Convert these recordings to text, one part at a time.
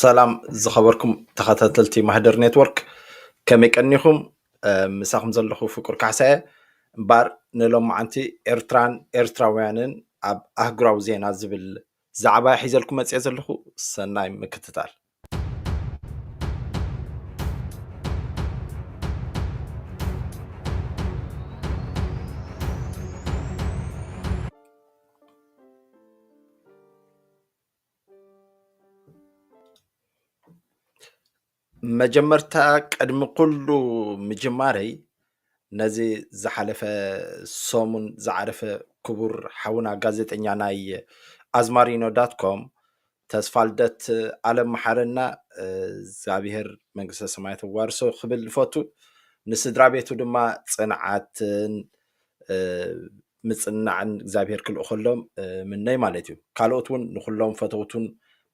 ሰላም ዝኸበርኩም ተኸታተልቲ ማህደር ኔትወርክ ከመይ ቀኒኹም? ምሳኹም ዘለኹ ፍቁር ካሕሳየ እምበኣር ንሎማዓንቲ ኤርትራን ኤርትራውያንን ኣብ ኣህጉራዊ ዜና ዝብል ዛዕባ ሒዘልኩም መፂኣ ዘለኹ ሰናይ ምክትታል። መጀመርታ ቅድሚ ኩሉ ምጅማረይ ነዚ ዝሓለፈ ሰሙን ዝዓረፈ ክቡር ሓውና ጋዜጠኛ ናይ ኣዝማሪኖ ዳትኮም ተስፋልደት ኣለም መሓረና እግዚኣብሄር መንግስተ ሰማያት የዋርሶ ክብል ይፈቱ። ንስድራ ቤቱ ድማ ፅንዓትን ምፅንናዕን እግዚኣብሄር ክልእኸሎም ምነይ ማለት እዩ። ካልኦት እውን ንኩሎም ፈተውቱን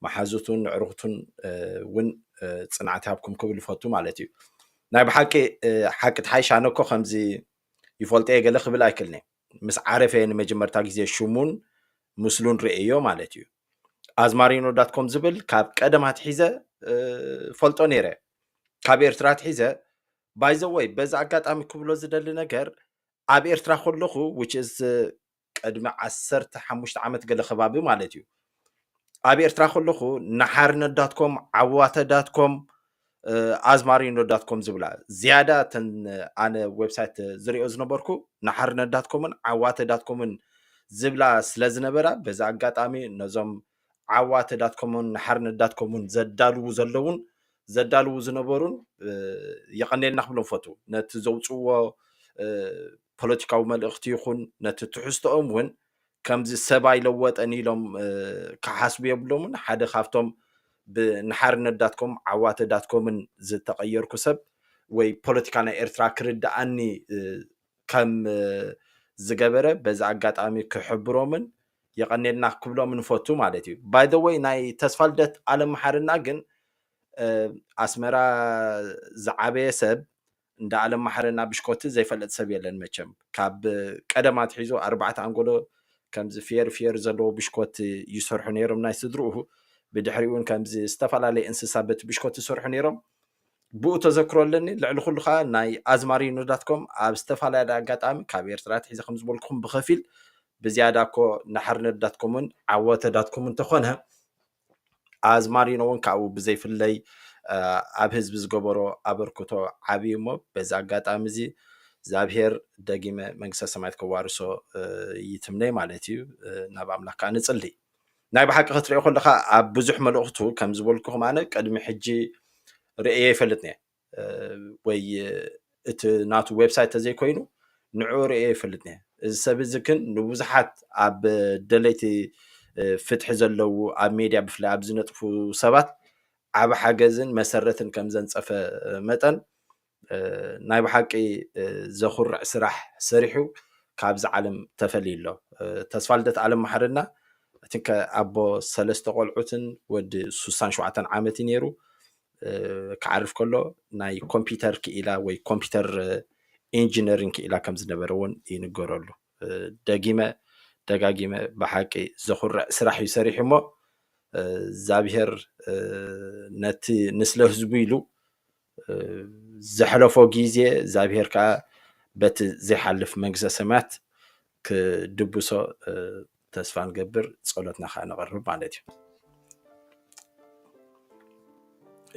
መሓዙቱን ንዕሩኽቱን እውን ፅንዓት ይሃብኩም ክብል ይፈቱ ማለት እዩ ናይ ብሓቂ ሓቂ ትሓይሽ ኣነ እኮ ከምዚ ይፈልጦ እየ ገለ ክብል ኣይክልኒ ምስ ዓረፈ ንመጀመርታ ግዜ ሽሙን ምስሉን ርእየዮ ማለት እዩ። ኣዝማሪኖ ዳት ኮም ዝብል ካብ ቀደም ኣትሒዘ ፈልጦ ነይረ ካብ ኤርትራ ኣትሒዘ ባይዘወይ በዚ ኣጋጣሚ ክብሎ ዝደሊ ነገር ኣብ ኤርትራ ከለኹ ውችዝ ቅድሚ ዓሰርተ ሓሙሽተ ዓመት ገለ ከባቢ ማለት እዩ ኣብ ኤርትራ ከለኹ ንሓርነት ዳትኮም ዓዋተ ዳትኮም ኣዝማሪኖ ዳትኮም ዝብላ ዝያዳ እተን ኣነ ዌብሳይት ዝሪኦ ዝነበርኩ ንሓርነት ዳትኮምን ዓዋተ ዳትኮምን ዝብላ ስለ ዝነበራ በዚ ኣጋጣሚ ነዞም ዓዋተ ዳትኮምን ንሓርነት ዳትኮምን ዘዳልዉ ዘለውን ዘዳልዉ ዝነበሩን የቐኔልና ክብሎም ፈቱ ነቲ ዘውፅዎ ፖለቲካዊ መልእኽቲ ይኹን ነቲ ትሕዝቶኦም እውን ከምዚ ሰብ ኣይለወጠን ኢሎም ክሓስቡ የብሎምን ሓደ ካብቶም ንሓርነት ዳትኮም ዓዋተ ዳትኮምን ዝተቐየርኩ ሰብ ወይ ፖለቲካ ናይ ኤርትራ ክርድኣኒ ከም ዝገበረ በዚ ኣጋጣሚ ክሕብሮምን የቐኔልና ክብሎም ንፈቱ ማለት እዩ ባይ ዘ ወይ ናይ ተስፋ ልደት ኣለምሓርና ግን ኣስመራ ዝዓበየ ሰብ እንዳ ኣለም ማሓረና ብሽኮቲ ዘይፈልጥ ሰብ የለን መቸም ካብ ቀደም ኣትሒዙ ኣርባዕተ ኣንጎሎ ከምዚ ፍየሪ ፍየሪ ዘለዎ ብሽኮቲ ይሰርሑ ነይሮም ናይ ስድርኡ ብድሕሪ እውን ከምዚ ዝተፈላለየ እንስሳ በቲ ብሽኮቲ ይሰርሑ ነይሮም ብኡ ተዘክሮ ኣለኒ ልዕሊ ኩሉ ከዓ ናይ ኣዝማሪኖ ዳትኮም ኣብ ዝተፈላለየ ኣጋጣሚ ካብ ኤርትራ ትሒዘ ከም ዝበልኩኹም ብኸፊል ብዝያዳ እኮ ንሓርነት ዳትኮምን ዓወተ ዳትኮምን ተኾነ ኣዝማሪኖ እውን ካብኡ ብዘይፍለይ ኣብ ህዝቢ ዝገበሮ ኣበርክቶ ዓብዪ እሞ በዚ ኣጋጣሚ እዚ እግዚኣብሄር ደጊመ መንግስተ ሰማያት ከዋርሶ ይትምነይ ማለት እዩ ናብ ኣምላኽ ከዓ ንፅሊ ናይ ብሓቂ ክትሪኦ ከለካ ኣብ ብዙሕ መልእኽቱ ከም ዝበልኩኹም ኣነ ቅድሚ ሕጂ ርእየ ይፈልጥ ነየ ወይ እቲ ናቱ ዌብሳይት ተዘይኮይኑ ንዑ ርእየ ይፈልጥ ነ እዚ ሰብ እዚ ግን ንብዙሓት ኣብ ደለይቲ ፍትሒ ዘለዉ ኣብ ሜድያ ብፍላይ ኣብ ዝነጥፉ ሰባት ዓብ ሓገዝን መሰረትን ከም ዘንፀፈ መጠን ናይ ብሓቂ ዘኹርዕ ስራሕ ሰሪሑ ካብዚ ዓለም ተፈልዩ ኣሎ ተስፋ ልደት ኣለም ማሕርና እቲ ኣቦ ሰለስተ ቆልዑትን ወዲ ሱሳን ሸውዓተን ዓመት እዩ ነይሩ ክዓርፍ ከሎ ናይ ኮምፒተር ክኢላ ወይ ኮምፒተር ኢንጂነሪንግ ክኢላ ከም ዝነበረ እውን ይንገረሉ ደጊመ ደጋጊመ ብሓቂ ዘኹርዕ ስራሕ እዩ ሰሪሑ እሞ እግዚኣብሄር ነቲ ንስለ ህዝቡ ኢሉ ዘሕለፎ ግዜ እግዚኣብሄር ከዓ በቲ ዘይሓልፍ መንግስተ ሰማያት ክድብሶ ተስፋ ንገብር ጸሎትና ከዓ ነቕርብ ማለት እዩ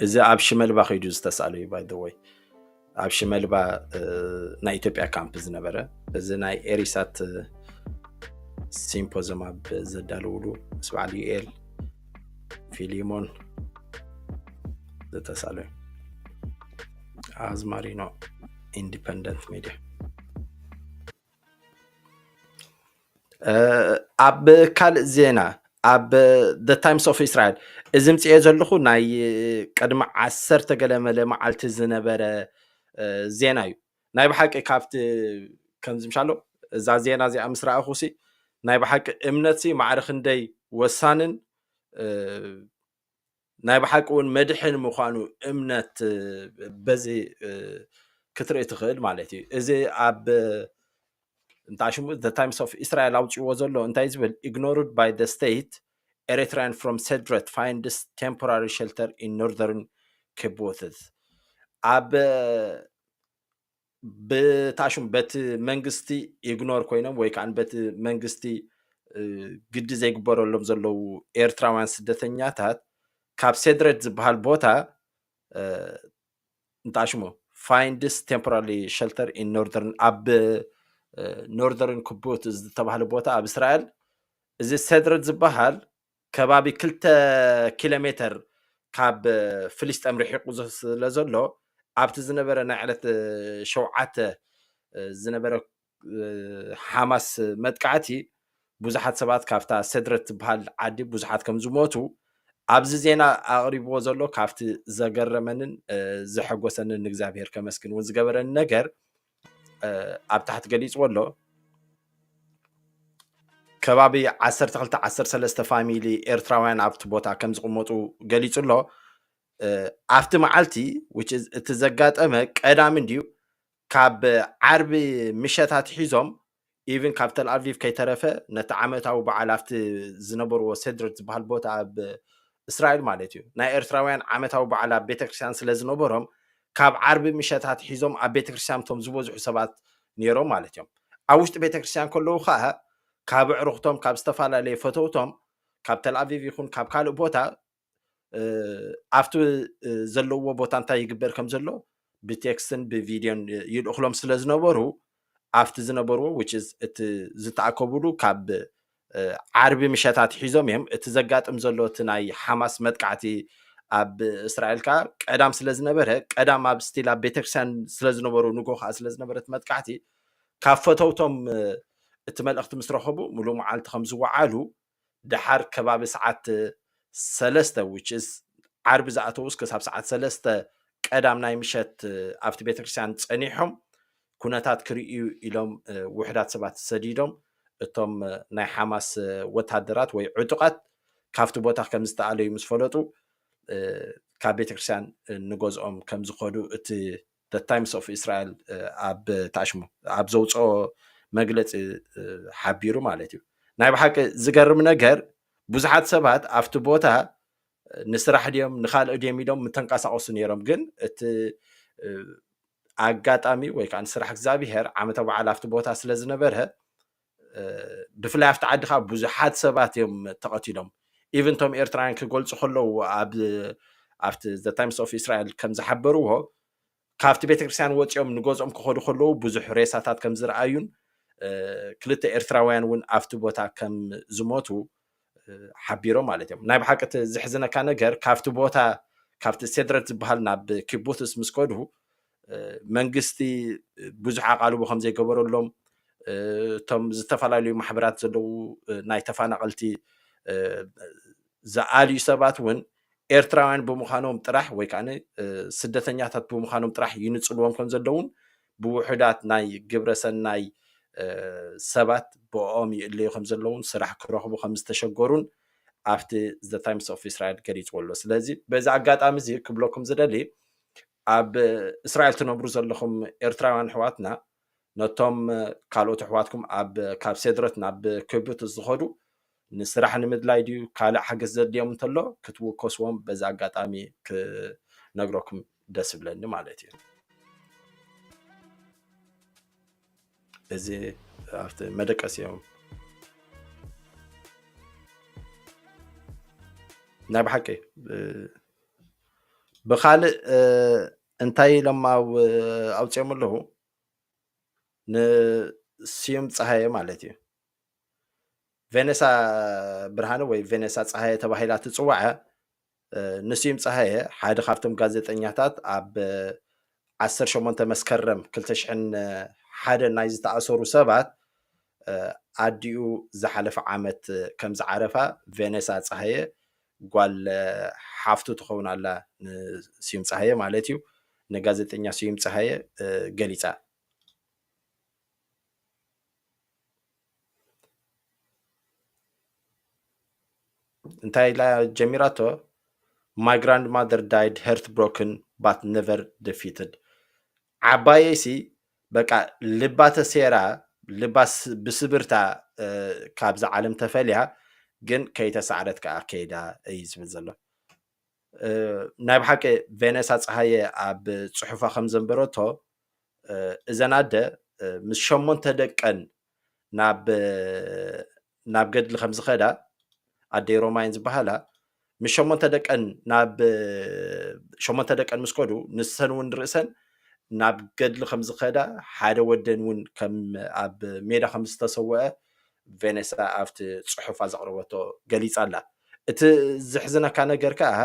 እዚ ኣብ ሽመልባ ከይዱ ዝተሳለ እዩ ባይደወይ ኣብ ሽመልባ ናይ ኢትዮጵያ ካምፕ ዝነበረ እዚ ናይ ኤሪሳት ሲምፖዝም ኣብ ዘዳልውሉ ምስ በዓል ዩኤል ፊሊሞን ዝተሳለ እዩ ኣዝማሪኖ ኢንዲፐንደንት ሚዲያ ኣብ ካልእ ዜና ኣብ ዘ ታይምስ ኦፍ እስራኤል እዚ ምፅኤ ዘለኹ ናይ ቅድሚ ዓሰርተ ገለመለ መዓልቲ ዝነበረ ዜና እዩ ናይ ብሓቂ ካብቲ ከምዚ ምሻሎ እዛ ዜና እዚኣ ምስ ረኣኹሲ ናይ ብሓቂ እምነትሲ ማዕረ ክንደይ ወሳንን ናይ ብሓቂ እውን መድሕን ምዃኑ እምነት በዚ ክትርኢ ትኽእል ማለት እዩ እዚ ኣብ እንታይ ሽሙ ዘ ታይምስ ኦፍ እስራኤል ኣውፅዎ ዘሎ እንታይ ዝብል ኢግኖርድ ባይ ዘ ስቴት ኤሪትራያን ፍሮም ሰድረት ፋይንድስ ቴምፖራሪ ሸልተር ኢን ኖርዘርን ኬቦትስ ኣብ ብታሽም በቲ መንግስቲ ኢግኖር ኮይኖም ወይ ከዓ በቲ መንግስቲ ግዲ ዘይግበረሎም ዘለዉ ኤርትራውያን ስደተኛታት ካብ ሴድረድ ዝበሃል ቦታ እንታይ ሽሙ ፋይንድስ ቴምፖራሪ ሸልተር ኢን ኖርደርን ኣብ ኖርደርን ክቡት ዝተባህለ ቦታ ኣብ እስራኤል እዚ ሴድረድ ዝበሃል ከባቢ ክልተ ኪሎ ሜተር ካብ ፍልስጤም ርሒቑ ስለ ዘሎ ኣብቲ ዝነበረ ናይ ዕለት ሸውዓተ ዝነበረ ሓማስ መጥቃዕቲ ብዙሓት ሰባት ካብታ ሰድረት ትበሃል ዓዲ ብዙሓት ከም ዝሞቱ ኣብዚ ዜና ኣቕሪብዎ ዘሎ ካብቲ ዘገረመንን ዘሐጎሰንን ንእግዚኣብሄር ከመስግን እውን ዝገበረኒ ነገር ኣብ ታሕቲ ገሊፅዎ ኣሎ ከባቢ 12 13 ፋሚሊ ኤርትራውያን ኣብቲ ቦታ ከም ዝቕመጡ ገሊፁ ኣሎ ኣብቲ መዓልቲ እቲ ዘጋጠመ ቀዳሚ እንድዩ ካብ ዓርቢ ምሸት ኣትሒዞም ኢቭን ካብ ተልኣቪቭ ከይተረፈ ነቲ ዓመታዊ በዓል ኣብቲ ዝነበርዎ ሴድርት ዝበሃል ቦታ ኣብ እስራኤል ማለት እዩ ናይ ኤርትራውያን ዓመታዊ በዓል ኣብ ቤተክርስትያን ስለ ዝነበሮም ካብ ዓርቢ ምሸት ኣትሒዞም ኣብ ቤተክርስትያን እቶም ዝበዝሑ ሰባት ነይሮም ማለት እዮም ኣብ ውሽጢ ቤተክርስትያን ከለዉ ከዓ ካብ ኣዕሩኽቶም ካብ ዝተፈላለየ ፈተውቶም ካብ ተልኣቪቭ ይኹን ካብ ካልእ ቦታ ኣብቲ ዘለዎ ቦታ እንታይ ይግበር ከም ዘሎ ብቴክስትን ብቪድዮን ይልእኽሎም ስለ ዝነበሩ ኣብቲ ዝነበርዎ ውችዝ እቲ ዝተኣከቡሉ ካብ ዓርቢ ምሸት ኣትሒዞም እዮም እቲ ዘጋጥም ዘሎ እቲ ናይ ሓማስ መጥቃዕቲ ኣብ እስራኤል ከዓ ቀዳም ስለ ዝነበረ ቀዳም ኣብ ስቲል ኣብ ቤተክርስትያን ስለ ዝነበሩ ንጎ ከዓ ስለ ዝነበረ እቲ መጥቃዕቲ ካብ ፈተውቶም እቲ መልእኽቲ ምስ ረኸቡ ሙሉእ መዓልቲ ከም ዝወዓሉ ደሓር ከባቢ ሰዓት ሰለስተ which is ዓርቢ ዝኣተዉስ ክሳብ ሰዓት ሰለስተ ቀዳም ናይ ምሸት ኣብቲ ቤተክርስትያን ጸኒሖም ኩነታት ክርእዩ ኢሎም ውሕዳት ሰባት ሰዲዶም እቶም ናይ ሓማስ ወታደራት ወይ ዕጡቓት ካብቲ ቦታ ከም ዝተኣለዩ ምስ ፈለጡ ካብ ቤተክርስትያን ንገዝኦም ከም ዝኸዱ እቲ The Times of Israel ኣብ ታሽሙ ኣብ ዘውጽኦ መግለጺ ሓቢሩ ማለት እዩ። ናይ ብሓቂ ዝገርም ነገር ብዙሓት ሰባት ኣብቲ ቦታ ንስራሕ ድዮም ንካልኦ ድዮም ኢሎም ምተንቀሳቀሱ ነይሮም ግን እቲ ኣጋጣሚ ወይ ከዓ ንስራሕ እግዚኣብሄር ዓመተ በዓል ኣብቲ ቦታ ስለ ዝነበረ ብፍላይ ኣብቲ ዓዲ ከዓ ብዙሓት ሰባት እዮም ተቐቲሎም ኢቨን እቶም ኤርትራውያን ክገልፁ ከለዉ ኣብ ኣብቲ ዘ ታይምስ ኦፍ እስራኤል ከም ዝሓበርዎ ካብቲ ቤተክርስትያን ወፂኦም ንገዝኦም ክኸዱ ከለዉ ብዙሕ ሬሳታት ከም ዝረኣዩን ክልተ ኤርትራውያን እውን ኣብቲ ቦታ ከም ዝሞቱ ሓቢሮም ማለት እዮም ናይ ብሓቂ እቲ ዝሕዝነካ ነገር ካብቲ ቦታ ካብቲ ሴድረት ዝበሃል ናብ ኪቡትስ ምስ ከዱ መንግስቲ ብዙሕ ኣቓልቦ ከም ዘይገበረሎም እቶም ዝተፈላለዩ ማሕበራት ዘለዉ ናይ ተፈናቐልቲ ዝኣልዩ ሰባት እውን ኤርትራውያን ብምዃኖም ጥራሕ ወይ ከኣ ስደተኛታት ብምዃኖም ጥራሕ ይንጽልዎም ከም ዘለዉን ብውሑዳት ናይ ግብረ ሰናይ ሰባት ብኦም ይእለዩ ከም ዘለዉን ስራሕ ክረኽቡ ከም ዝተሸገሩን ኣብቲ ዘ ታይምስ ኦፍ እስራኤል ገሊጽዎ ኣሎ ስለዚ በዚ ኣጋጣሚ እዚ ክብለኩም ዝደሊ ኣብ እስራኤል ትነብሩ ዘለኹም ኤርትራውያን ኣሕዋትና ነቶም ካልኦት ኣሕዋትኩም ኣብ ካብ ሴድረት ናብ ክብሪት ዝኸዱ ንስራሕ ንምድላይ ድዩ ካልእ ሓገዝ ዘድልዮም እንተሎ ክትውከስዎም በዚ ኣጋጣሚ ክነግረኩም ደስ ብለኒ ማለት እዩ እዚ ኣብቲ መደቀስ እዮም ናይ ብሓቂ ብካልእ እንታይ ኢሎም ኣውፅኦም ኣለዉ ንስዩም ፀሃየ ማለት እዩ ቬነሳ ብርሃነ ወይ ቬነሳ ፀሃየ ተባሂላ ትፅዋዐ ንስዩም ፀሃየ ሓደ ካብቶም ጋዜጠኛታት ኣብ 18 መስከረም 201 ናይ ዝተኣሰሩ ሰባት ኣዲኡ ዝሓለፈ ዓመት ከም ዝዓረፋ ቬነሳ ፀሃየ ጓል ሓፍቱ ትኸውን ኣላ ንስዩም ጸሃየ ማለት እዩ ንጋዜጠኛ ስዩም ጸሃየ ገሊጻ። እንታይ ኢላ ጀሚራቶ ማይ ግራንድ ማዘር ዳይድ ሄርት ብሮክን ባት ነቨር ደፊትድ ዓባየይሲ በቃ ልባ ተሴራ ልባ ብስብርታ ካብዛ ዓለም ተፈልያ ግን ከይተሳዕረት ከኣ ከይዳ እዩ ዝብል ዘሎ ናይ ብሓቂ ቬነሳ ፀሃየ ኣብ ፅሑፋ ከም ዘንበረቶ እዘን ኣደ ምስ ሸሞንተ ደቀን ናብ ገድሊ ከም ዝኸዳ ኣደይ ሮማይን ዝበሃላ ምስ ሸሞንተ ደቀን ናብ ሸሞንተ ደቀን ምስ ከዱ ንሰን እውን ርእሰን ናብ ገድሊ ከም ዝኸዳ ሓደ ወደን እውን ከም ኣብ ሜዳ ከም ዝተሰወአ ቬኔሳ ኣብቲ ፅሑፋ ዘቕረበቶ ገሊፃ ኣላ እቲ ዝሕዝነካ ነገር ከዓ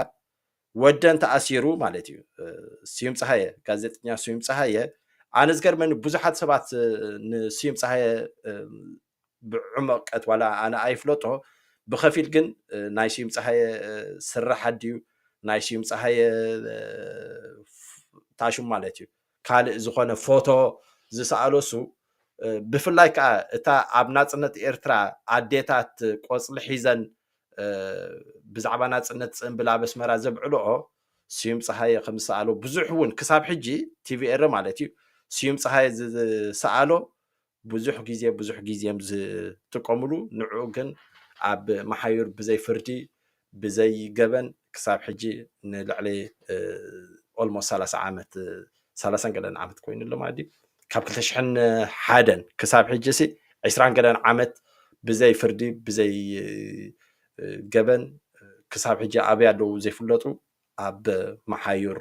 ወደን ተኣሲሩ ማለት እዩ። ስዩም ፀሃየ ጋዜጠኛ ስዩም ፀሃየ ኣነ ዝገርመኒ ብዙሓት ሰባት ንስዩም ፀሃየ ብዕመቀት ዋላ ኣነ ኣይፍለጦ ብከፊል ግን ናይ ስዩም ፀሃየ ስራሕ ኣድዩ ናይ ስዩም ፀሃየ ታሽም ማለት እዩ ካልእ ዝኾነ ፎቶ ዝሰኣሎሱ ብፍላይ ከኣ እታ ኣብ ናጽነት ኤርትራ ኣዴታት ቆጽሊ ሒዘን ብዛዕባ ናጽነት ጽንብል ኣብ ኣስመራ ዘብዕልኦ ስዩም ጸሃየ ከም ዝሰኣሎ ብዙሕ እውን ክሳብ ሕጂ ቲቪ ኤረ ማለት እዩ ስዩም ጸሃየ ዝሰኣሎ ብዙሕ ግዜ ብዙሕ ግዜ እዮም ዝጥቀምሉ ንዑ ግን ኣብ መሓዩር ብዘይ ፍርዲ ብዘይ ገበን ክሳብ ሕጂ ንልዕሊ ኦልሞስ ሰላሳ ዓመት ሰላሳን ገለን ዓመት ኮይኑ ኣሎ ማለት እዩ ካብ ክልተ ሽሕን ሓደን ክሳብ ሕጂ ሲ ዕስራን ገለን ዓመት ብዘይ ፍርዲ ብዘይ ገበን ክሳብ ሕጂ ኣበይ ኣለዉ ዘይፍለጡ ኣብ መሓዩር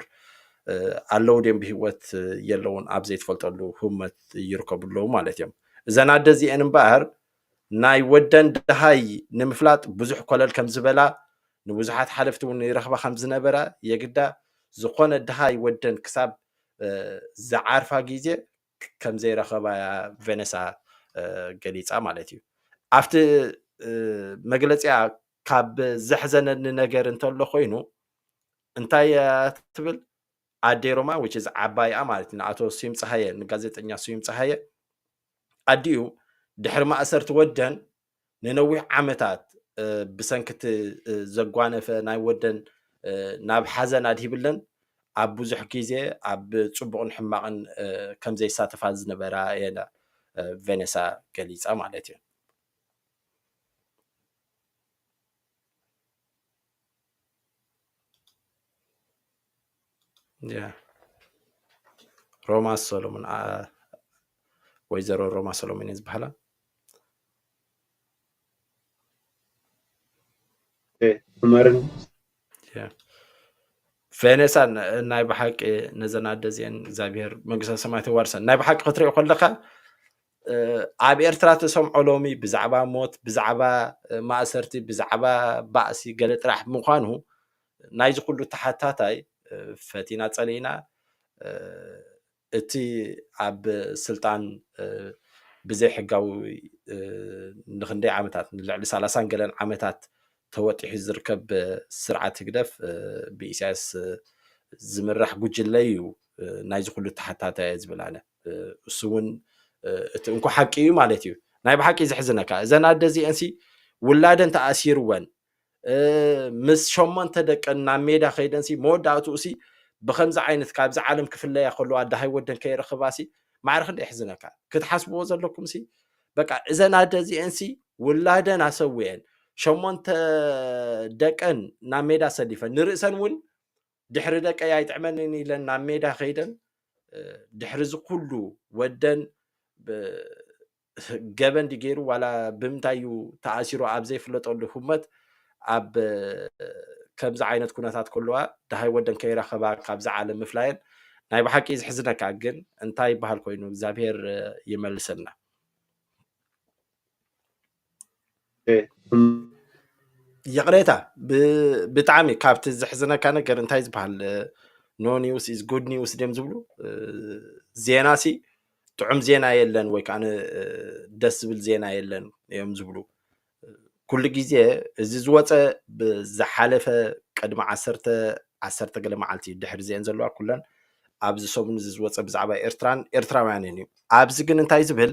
ኣለዉ ድዮም ብሂወት የለዉን ኣብ ዘይትፈልጠሉ ህውመት ይርከቡ ኣለዉ ማለት እዮም እዘን ኣደ እዚአን እምበኣር ናይ ወደን ድሃይ ንምፍላጥ ብዙሕ ኮለል ከም ዝበላ ንብዙሓት ሓለፍቲ እውን ይረኽባ ከም ዝነበራ የግዳ ዝኾነ ድሃይ ወደን ክሳብ ዝዓርፋ ግዜ ከም ዘይረኸባ እያ ቬነሳ ገሊፃ ማለት እዩ ኣብቲ መግለፂያ ካብ ዘሕዘነኒ ነገር እንተሎ ኮይኑ እንታይ ትብል ኣዴ ሮማ which is ዓባይኣ ማለት እዩ ንኣቶ ስዩም ፀሃየ ንጋዜጠኛ ስዩም ፀሃየ ኣዲኡ ድሕሪ ማእሰርቲ ወደን ንነዊሕ ዓመታት ብሰንኪ እቲ ዘጓነፈ ናይ ወደን ናብ ሓዘን ኣድሂብለን ኣብ ብዙሕ ግዜ ኣብ ፅቡቕን ሕማቕን ከም ዘይሳተፋ ዝነበራ የለ ቬኔሳ ገሊፃ ማለት እዩ ያ ሮማ ሰሎሞን ወይዘሮ ሮማ ሰሎሞን እየ ዝበሃላ ዑመርን ቬኔሳን ናይ ብሓቂ ነዘን ኣደ እዚአን እግዚኣብሄር መንግስተ ሰማያት የዋርሰን ናይ ብሓቂ ክትሪኦ ከለካ ኣብ ኤርትራ ተሰምዖ ሎሚ ብዛዕባ ሞት ብዛዕባ ማእሰርቲ ብዛዕባ ባእሲ ገለ ጥራሕ ምዃኑ ናይዚ ኩሉ ተሓታታይ ፈቲና ጸሊእና እቲ ኣብ ስልጣን ብዘይ ሕጋዊ ንክንደይ ዓመታት ንልዕሊ ሰላሳን ገለን ዓመታት ተወጢሑ ዝርከብ ስርዓት ህግደፍ ብኢሳያስ ዝምራሕ ጉጅለ እዩ ናይዚ ኩሉ ተሓታታይ ዝብል ኣነ እሱ እውን እቲ እንኮ ሓቂ እዩ ማለት እዩ ናይ ብሓቂ ዘሕዝነካ እዘን ኣደ እዚአን ሲ ውላደን ተኣሲርወን ምስ ሸሞንተ ደቀን ናብ ሜዳ ከይደን ሲ መወዳእትኡ ሲ ብከምዚ ዓይነት ካብዚ ዓለም ክፍለያ ከለዋ ዳሃይ ወደን ከይረክባ ሲ ማዕረ ክንደ የሕዝነካ ክትሓስብዎ ዘለኩም ሲ በቃ እዘን ኣደ እዚአን ሲ ውላደን ኣሰዊአን ሸሞንተ ደቀን ናብ ሜዳ ሰሊፈን ንርእሰን እውን ድሕሪ ደቀይ ኣይጥዕመንን ኢለን ናብ ሜዳ ከይደን ድሕሪ እዚ ኩሉ ወደን ገበን ድዩ ገይሩ ዋላ ብምንታይ እዩ ተኣሲሩ ኣብ ዘይፍለጠሉ ህመት ኣብ ከምዚ ዓይነት ኩነታት ከለዋ ድሃይ ወደን ከይረኸባ ካብዚ ዓለም ምፍላየን ናይ ብሓቂ ዝሕዝነካ ግን እንታይ ይበሃል ኮይኑ እግዚኣብሄር ይመልሰልና ይቕሬታ ብጣዕሚ ካብቲ ዘሕዝነካ ነገር እንታይ ዝበሃል ኖ ኒውስ ኢዝ ጉድ ኒውስ ድዮም ዝብሉ ዜና ሲ ጥዑም ዜና የለን ወይ ከዓ ደስ ዝብል ዜና የለን እዮም ዝብሉ ኩሉ ግዜ እዚ ዝወፀ ብዝሓለፈ ቅድሚ ዓሰርተ ዓሰርተ ገለ መዓልቲ ድሕሪ ዜን ዘለዋ ኩለን ኣብዚ ሰሙን እዚ ዝወፀ ብዛዕባ ኤርትራን ኤርትራውያንን እዩ ኣብዚ ግን እንታይ ዝብል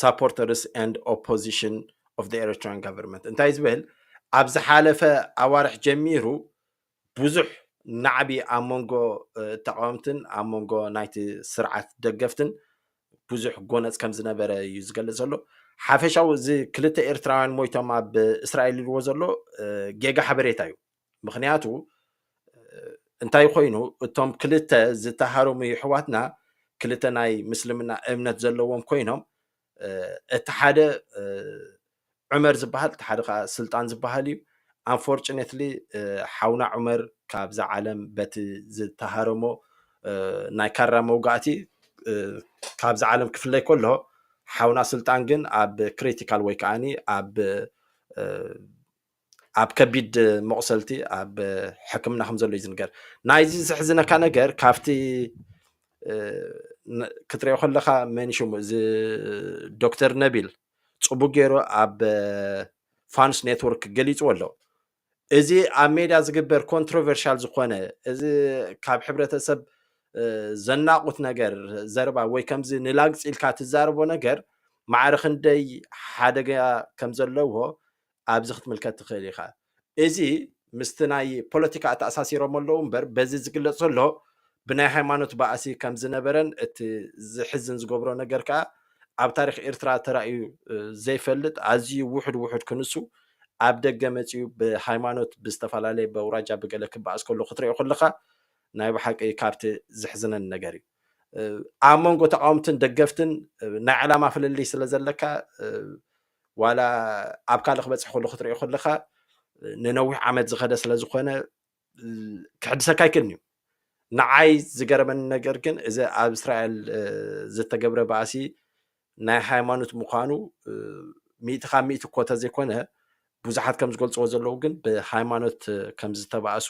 ሳፖርተርስ ኤንድ ኦፖዚሽን ኦፍ ዘ ኤሪትራን ጋቨርንመንት እንታይ ዝብል ኣብ ዝሓለፈ ኣዋርሕ ጀሚሩ ብዙሕ ናዕቢ ኣብ መንጎ ተቃወምትን ኣብ መንጎ ናይቲ ስርዓት ደገፍትን ብዙሕ ጎነፅ ከም ዝነበረ እዩ ዝገልፅ ዘሎ ሓፈሻዊ እዚ ክልተ ኤርትራውያን ሞይቶም ኣብ እስራኤል ኢልዎ ዘሎ ጌጋ ሓበሬታ እዩ ምኽንያቱ እንታይ ኮይኑ እቶም ክልተ ዝተሃረሙ ይሕዋትና ክልተ ናይ ምስልምና እምነት ዘለዎም ኮይኖም እቲ ሓደ ዑመር ዝበሃል እቲ ሓደ ከዓ ስልጣን ዝበሃል እዩ ኣንፎርችኔትሊ ሓውና ዑመር ካብዛ ዓለም በቲ ዝተሃረሞ ናይ ካራ መውጋእቲ ካብዚ ዓለም ክፍለይ ከሎ ሓውና ስልጣን ግን ኣብ ክሪቲካል ወይ ከዓኒ ኣብ ኣብ ከቢድ መቑሰልቲ ኣብ ሕክምና ከም ዘሎ እዩ ዝንገር ናይዚ ዘሕዝነካ ነገር ካብቲ ክትሪኦ ከለካ መን ሽሙ እዚ ዶክተር ነቢል ፅቡቅ ገይሩ ኣብ ፋንስ ኔትወርክ ገሊፅዎ ኣሎ እዚ ኣብ ሜዳ ዝግበር ኮንትሮቨርሻል ዝኾነ እዚ ካብ ሕብረተሰብ ዘናቑት ነገር ዘረባ ወይ ከምዚ ንላግፂ ኢልካ ትዛረቦ ነገር ማዕረ ክንደይ ሓደጋ ከም ዘለዎ ኣብዚ ክትምልከት ትኽእል ኢኻ። እዚ ምስቲ ናይ ፖለቲካ ኣተኣሳሲሮሞ ኣለዉ እምበር በዚ ዝግለጽ ዘሎ ብናይ ሃይማኖት ባእሲ ከም ዝነበረን እቲ ዝሕዝን ዝገብሮ ነገር ከኣ ኣብ ታሪኽ ኤርትራ ተራእዩ ዘይፈልጥ ኣዝዩ ውሑድ ውሑድ ክንሱ ኣብ ደገ መጺኡ ብሃይማኖት ብዝተፈላለየ በውራጃ ብገለ ክበኣስ ከሎ ክትሪኦ ከለኻ ናይ ብሓቂ ካብቲ ዝሕዝነን ነገር እዩ ኣብ መንጎ ተቃወምትን ደገፍትን ናይ ዕላማ ፍልልይ ስለ ዘለካ ዋላ ኣብ ካልእ ክበጽሕ ከሎ ክትሪኦ ከለካ ንነዊሕ ዓመት ዝኸደ ስለ ዝኾነ ክሕድሰካ ይክእል እዩ ንዓይ ዝገረመኒ ነገር ግን እዚ ኣብ እስራኤል ዝተገብረ ባእሲ ናይ ሃይማኖት ምዃኑ ሚእቲ ካብ ሚእቲ እኮ ተዘይኮነ ብዙሓት ከም ዝገልፅዎ ዘለዉ ግን ብሃይማኖት ከም ዝተባእሱ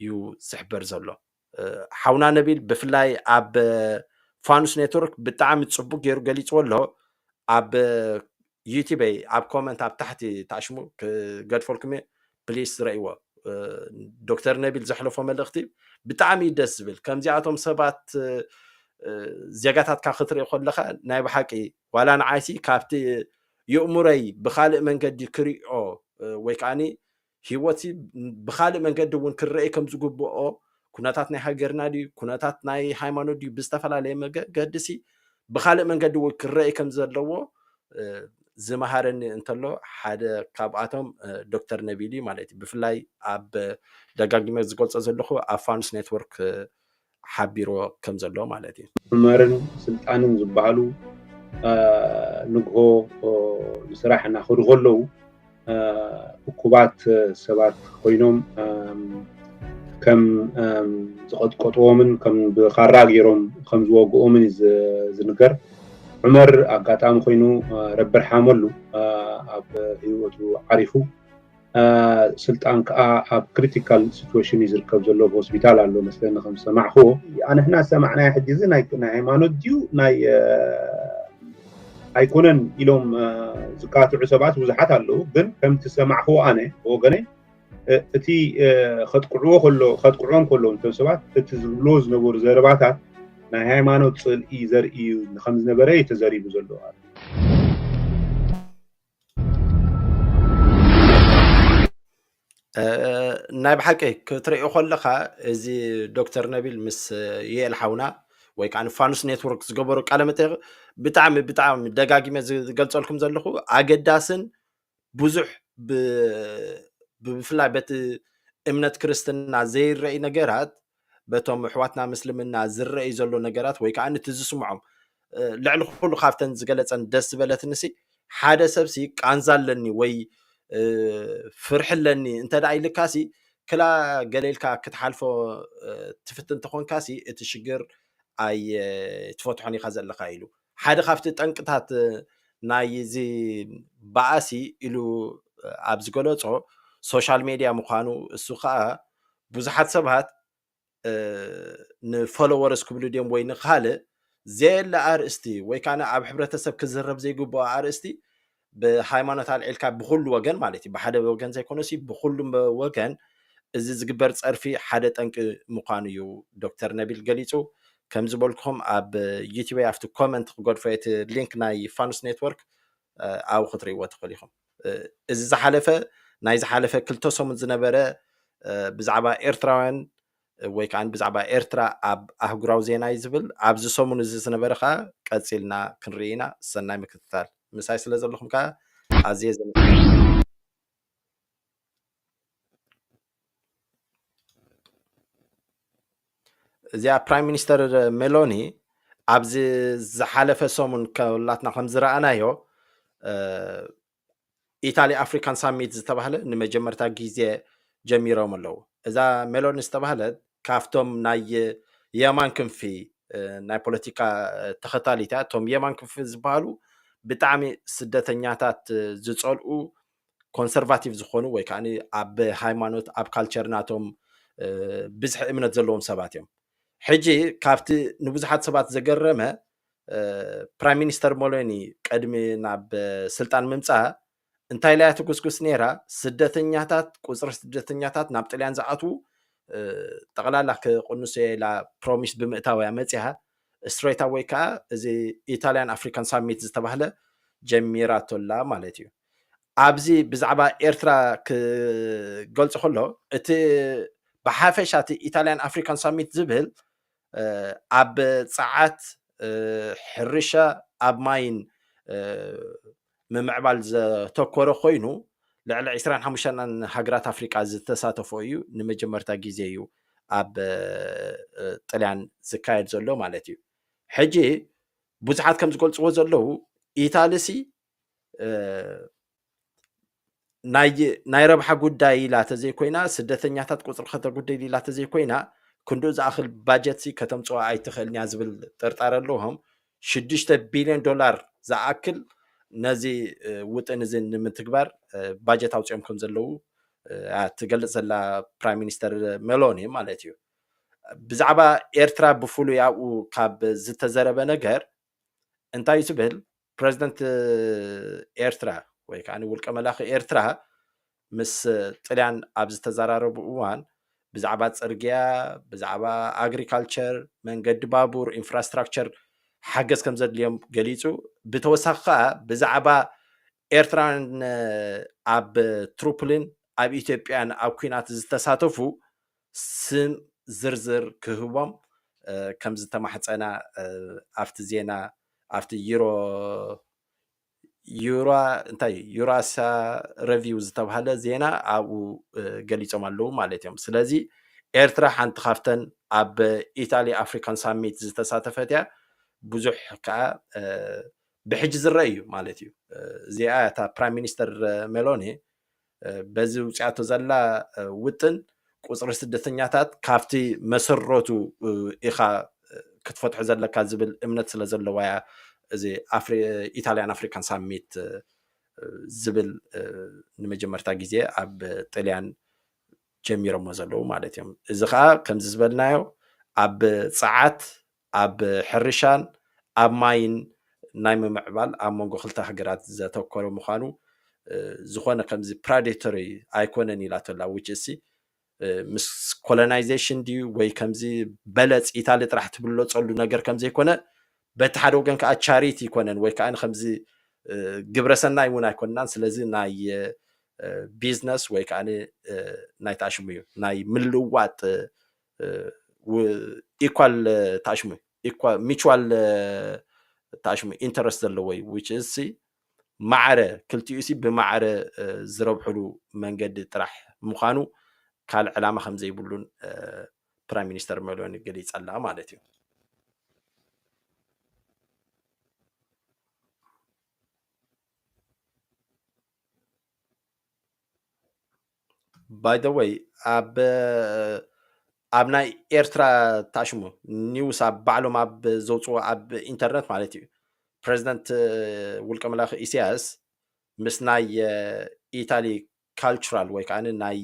እዩ ዝሕበር ዘሎ ሓውና ነቢል ብፍላይ ኣብ ፋኑስ ኔትወርክ ብጣዕሚ ፅቡቅ ገይሩ ገሊፅዎ ኣሎ ኣብ ዩቲበይ ኣብ ኮመንት ኣብ ታሕቲ ታሽሙ ክገድፈልኩም እየ ፕሊስ ዝረእይዎ ዶክተር ነቢል ዘሕለፎ መልእኽቲ ብጣዕሚ እዩ ደስ ዝብል ከምዚኣቶም ሰባት ዜጋታትካ ክትርኢ ከለካ ናይ ብሓቂ ዋላ ንዓይሲ ካብቲ የእሙረይ ብካልእ መንገዲ ክሪኦ ወይ ከዓኒ ህይወት ብካልእ መንገዲ እውን ክረኤ ከም ዝግብኦ ኩነታት ናይ ሃገርና ድዩ ኩነታት ናይ ሃይማኖት ድዩ ብዝተፈላለየ መገዲ ሲ ብካልእ መንገዲ እውን ክረኤ ከም ዘለዎ ዝመሃረኒ እንተሎ ሓደ ካብኣቶም ዶክተር ነቢል እዩ ማለት እዩ ብፍላይ ኣብ ደጋጊመ ዝገልፆ ዘለኹ ኣብ ፋኑስ ኔትወርክ ሓቢርዎ ከምዘሎ ማለት እዩ። ዑመርን ስልጣንን ዝበሃሉ ንግሆ ንስራሕ እናኸዱ ከለዉ እኩባት ሰባት ኮይኖም ከም ዝቐጥቀጥዎምን ከም ብኻራ ገይሮም ከም ዝወግኦምን እዩ ዝንገር። ዑመር ኣጋጣሚ ኮይኑ ረቢ ርሓመሉ ኣብ ህይወቱ ዓሪፉ። ስልጣን ከኣ ኣብ ክሪቲካል ሲትወሽን እዩ ዝርከብ ዘሎ ኣብ ሆስፒታል ኣሎ መስለኒ ከም ዝሰማዕክዎ ኣንሕና ዝሰማዕናዮ ሕጂ እዚ ናይ ሃይማኖት ድዩ ናይ ኣይኮነን ኢሎም ዝካትዑ ሰባት ብዙሓት ኣለዉ ግን ከምቲ ዝሰማዕክዎ ኣነ ብወገነይ እቲ ከጥቅዕዎ ከሎ ከጥቅዕዎም ከለዉ እቶም ሰባት እቲ ዝብልዎ ዝነበሩ ዘረባታት ናይ ሃይማኖት ፅልኢ ዘርኢ እዩ ከም ዝነበረ እዩ ተዘሪቡ ዘሎ ናይ ብሓቂ ክትሪኦ ከለካ እዚ ዶክተር ነቢል ምስ ዩኤል ሓውና ወይ ከዓ ፋኑስ ኔትወርክ ዝገበሩ ቃለ መጠይቅ ብጣዕሚ ብጣዕሚ ደጋጊመ ዝገልፀልኩም ዘለኹ ኣገዳስን ብዙሕ ብፍላይ በቲ እምነት ክርስትና ዘይረኣይ ነገራት በቶም ኣሕዋትና ምስልምና ዝረእይ ዘሎ ነገራት ወይ ከዓ ንቲ ዝስምዖም ልዕሊ ኩሉ ካብተን ዝገለፀን ደስ ዝበለትንሲ ሓደ ሰብሲ ቃንዛ ኣለኒ ወይ ፍርሒ ኣለኒ እንተደኣ ኢልካሲ ክላ ገሌልካ ክትሓልፎ ትፍትን ተኾንካሲ እቲ ሽግር ኣይ ትፈትሖን ኢኻ ዘለካ ኢሉ ሓደ ካብቲ ጠንቅታት ናይ እዚ በኣሲ ኢሉ ኣብ ዝገለፆ ሶሻል ሜድያ ምዃኑ እሱ ከዓ ብዙሓት ሰባት ንፎሎወርስ ክብሉ ድዮም ወይ ንካልእ ዘየለ ኣርእስቲ ወይ ከዓ ኣብ ሕብረተሰብ ክዝረብ ዘይግብኦ ኣርእስቲ ብሃይማኖት ኣልዒልካ ብኩሉ ወገን ማለት እዩ ብሓደ ወገን ዘይኮነሲ ብኩሉ ወገን እዚ ዝግበር ፀርፊ ሓደ ጠንቂ ምዃኑ እዩ ዶክተር ነቢል ገሊፁ ከም ዝበልኩም ኣብ ዩቲበይ ኣብቲ ኮመንት ክገድፎ እቲ ሊንክ ናይ ፋኑስ ኔትወርክ ኣብኡ ክትርእይዎ ትኽእሉ ኢኹም። እዚ ዝሓለፈ ናይ ዝሓለፈ ክልተ ሰሙን ዝነበረ ብዛዕባ ኤርትራውያን ወይ ከዓ ብዛዕባ ኤርትራ ኣብ ኣህጉራዊ ዜና እዩ ዝብል ኣብዚ ሰሙን እዚ ዝነበረ ከዓ ቀፂልና ክንርኢ ኢና ሰናይ ምክትታል ምሳይ ስለ ዘለኹም ከዓ ኣዝየ እዚኣ ፕራይም ሚኒስተር ሜሎኒ ኣብዚ ዝሓለፈ ሰሙን ከላትና ከም ዝረኣናዮ ኢታሊ ኣፍሪካን ሳሚት ዝተባህለ ንመጀመርታ ግዜ ጀሚሮም ኣለዉ እዛ ሜሎኒ ዝተባህለት ካብቶም ናይ የማን ክንፊ ናይ ፖለቲካ ተኸታሊት እያ እቶም የማን ክንፊ ዝበሃሉ ብጣዕሚ ስደተኛታት ዝፀልኡ ኮንሰርቫቲቭ ዝኾኑ ወይ ከዓ ኣብ ሃይማኖት ኣብ ካልቸር ናቶም ብዝሒ እምነት ዘለዎም ሰባት እዮም ሕጂ ካብቲ ንብዙሓት ሰባት ዘገረመ ፕራይም ሚኒስተር ሞሎኒ ቅድሚ ናብ ስልጣን ምምፃእ እንታይ ኢላያ ትጉስጉስ ነይራ ስደተኛታት ቁፅሪ ስደተኛታት ናብ ጥልያን ዝኣትዉ ጠቕላላ ክቕንሶ ኢላ ፕሮሚስ ብምእታውያ መፅያ ስትሬታ ወይ ከዓ እዚ ኢታልያን ኣፍሪካን ሳሚት ዝተባህለ ጀሚራቶላ ማለት እዩ ኣብዚ ብዛዕባ ኤርትራ ክገልጾ ከሎ እቲ ብሓፈሻ እቲ ኢታልያን ኣፍሪካን ሳሚት ዝብል ኣብ ጸዓት ሕርሻ ኣብ ማይን ምምዕባል ዘተኮረ ኮይኑ ልዕሊ 25 ሃገራት ኣፍሪቃ ዝተሳተፎ እዩ ንመጀመርታ ግዜ እዩ ኣብ ጥልያን ዝካየድ ዘሎ ማለት እዩ ሕጂ ብዙሓት ከም ዝገልፅዎ ዘለዉ ኢታልሲ ናይ ረብሓ ጉዳይ ኢላ ተዘይኮይና ስደተኛታት ቁፅሪ ከተጉድል ኢላ ተዘይኮይና ክንድኡ ዝኣኽል ባጀት ከተምፅኦ ኣይትኽእልን እያ ዝብል ጥርጣረ ኣለዎም ሽዱሽተ ቢልዮን ዶላር ዝኣክል ነዚ ውጥን እዚ ንምትግባር ባጀት ኣውፅኦም ከም ዘለዉ ትገልፅ ዘላ ፕራይም ሚኒስተር ሜሎኒ ማለት እዩ ብዛዕባ ኤርትራ ብፍሉይ ኣብኡ ካብ ዝተዘረበ ነገር እንታይ ትብል ፕረዚደንት ኤርትራ ወይ ከዓ ውልቀ መላኺ ኤርትራ ምስ ጥልያን ኣብ ዝተዘራረቡ እዋን ብዛዕባ ፅርግያ ብዛዕባ ኣግሪካልቸር መንገዲ ባቡር ኢንፍራስትራክቸር ሓገዝ ከም ዘድልዮም ገሊፁ ብተወሳኺ ከዓ ብዛዕባ ኤርትራን ኣብ ትሩፕሊን ኣብ ኢትዮጵያን ኣብ ኩናት ዝተሳተፉ ስም ዝርዝር ክህቦም ከም ዝተማሕጸና ኣብቲ ዜና ኣብቲ ዩሮ ዩራ እንታይ እዩ ዩራሳ ረቪው ዝተባሃለ ዜና ኣብኡ ገሊፆም ኣለዉ ማለት እዮም ስለዚ ኤርትራ ሓንቲ ካብተን ኣብ ኢታሊ ኣፍሪካን ሳሚት ዝተሳተፈት እያ ብዙሕ ከዓ ብሕጂ ዝረአ እዩ ማለት እዩ እዚኣ እታ ፕራይም ሚኒስተር ሜሎኒ በዚ ውፅያቶ ዘላ ውጥን ቁፅሪ ስደተኛታት ካብቲ መሰረቱ ኢኻ ክትፈትሖ ዘለካ ዝብል እምነት ስለ ዘለዋ እያ እዚ ኢታልያን ኣፍሪካን ሳሚት ዝብል ንመጀመርታ ግዜ ኣብ ጥልያን ጀሚሮሞ ዘለዉ ማለት እዮም እዚ ከዓ ከምዚ ዝበልናዮ ኣብ ፀዓት ኣብ ሕርሻን ኣብ ማይን ናይ ምምዕባል ኣብ መንጎ ክልተ ሃገራት ዘተኮረ ምዃኑ ዝኾነ ከምዚ ፕራዴቶሪ ኣይኮነን ኢላቶላ ውጭሲ ምስ ኮሎናይዜሽን ድዩ ወይ ከምዚ በለፅ ኢታሊ ጥራሕ ትብለፀሉ ነገር ከምዘይኮነ በቲ ሓደ ወገን ከዓ ቻሪቲ ይኮነን ወይ ከዓ ከምዚ ግብረሰናይ እውን ኣይኮንናን ስለዚ ናይ ቢዝነስ ወይ ከዓ ናይ ታሽሙ እዩ ናይ ምልዋጥ ኢኳል ተኣሽሙ ሚቹዋል ተኣሽሙ ኢንተረስት ዘለዎ እዩ ዊች እሲ ማዕረ ክልቲኡ ሲ ብማዕረ ዝረብሕሉ መንገዲ ጥራሕ ምዃኑ ካልእ ዕላማ ከም ዘይብሉን ፕራይም ሚኒስተር መሎኒ ገሊጻ ኣላ ማለት እዩ ባይ ዘ ወይ ኣብ ኣብ ናይ ኤርትራ ታሽሙ ኒውስ ኣብ ባዕሎም ኣብ ዘውፅዎ ኣብ ኢንተርነት ማለት እዩ ፕሬዚደንት ውልቀ መላኺ ኢሳያስ ምስ ናይ ኢታሊ ካልቸራል ወይ ከዓ ናይ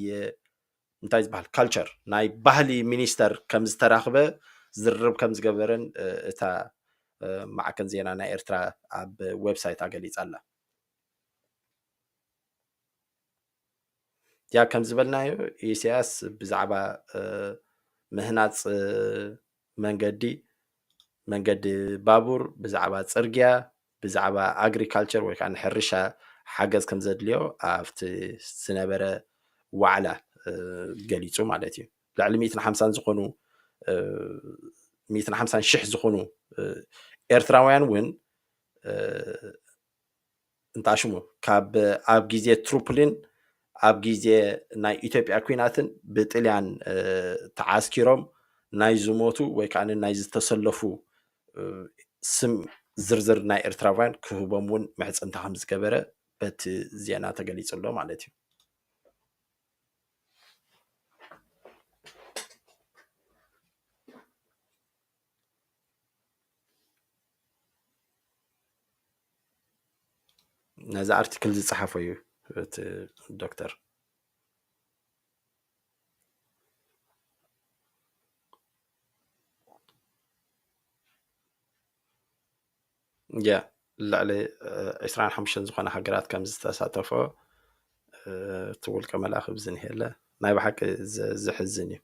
እንታይ ዝበሃል ካልቸር ናይ ባህሊ ሚኒስተር ከም ዝተራኽበ ዝርርብ ከም ዝገበረን እታ ማዕከን ዜና ናይ ኤርትራ ኣብ ዌብሳይታ ገሊፃ ኣላ ያ ከም ዝበልናዮ ኢሳያስ ብዛዕባ ምህናፅ መንገዲ መንገዲ ባቡር ብዛዕባ ፅርግያ ብዛዕባ ኣግሪካልቸር ወይ ከዓ ንሕርሻ ሓገዝ ከም ዘድልዮ ኣብቲ ዝነበረ ዋዕላ ገሊፁ ማለት እዩ ልዕሊ ሚእትን ሓምሳን ዝኾኑ ሚእትን ሓምሳን ሽሕ ዝኾኑ ኤርትራውያን እውን እንታሽሙ ካብ ኣብ ግዜ ትሩፕሊን ኣብ ግዜ ናይ ኢትዮጵያ ኩናትን ብጥልያን ተዓስኪሮም ናይ ዝሞቱ ወይ ከዓ ናይ ዝተሰለፉ ስም ዝርዝር ናይ ኤርትራውያን ክህቦም እውን ምሕፅንታ ከም ዝገበረ በቲ ዜና ተገሊጹ ኣሎ ማለት እዩ። ነዚ ኣርቲክል ዝፀሓፎ እዩ እቲ ዶክተር። ያ ልዕሊ ዕስራን ሓሙሽተን ዝኾና ሃገራት ከም ዝተሳተፎ እቲ ውልቀ መልኣኽ ብዝንሄለ ናይ ብሓቂ ዘሕዝን እዩ